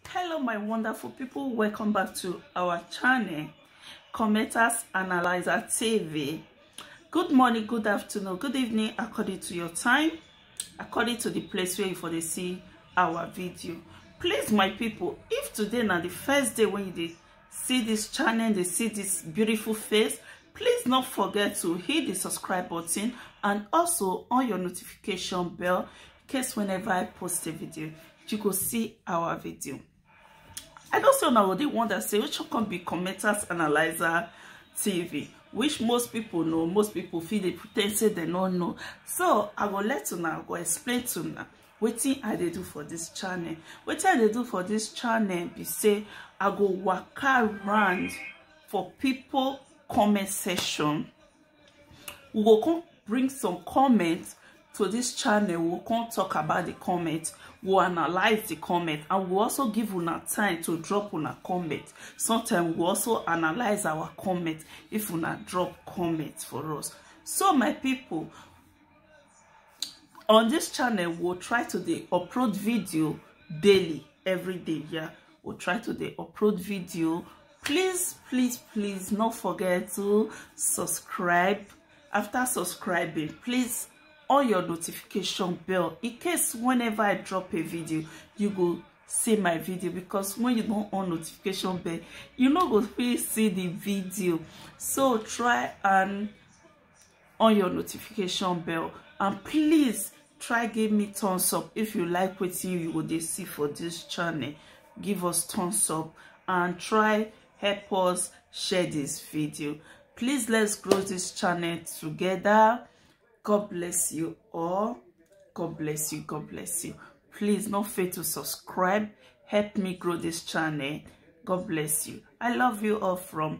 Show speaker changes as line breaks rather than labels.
hello my wonderful people welcome back to our channel commenters analyzer tv good morning good afternoon good evening according to your time according to the place where you for dey see our video please my people if today na the first day when you dey see this channel dey see this beautiful face please not forget to hit the subscribe button and also on your notification bell in case whenever i post a video you go see our video i know say una go dey wonder say which come be commenters analyzer tv which most people know most people feel they pretend say they don't know so i will let you now go explain to una wetin i dey do for this channel wetin i dey do for this channel be say i go walk around for people comment section we go come bring some comments to this channel we'll come talk about the comment we'll analyze the comment and we'll also give una time to drop una comment sometimes we'll also analyze our comment if una drop comments for us so my people on this channel we'll try to dey upload video daily every day yeah we'll try to dey upload video please please please not forget to subscribe after subscribing please on your notification bell in case whenever i drop a video you go see my video because when you don't on notification bell you no go fit see the video so try and on your notification bell and please try give me thumbs up if you like wetin you go dey see for this channel give us thumbs up and try help us share this video please let's grow this channel together god bless you all god bless you god bless you please no fail to subscribe help me grow this channel god bless you i love you all from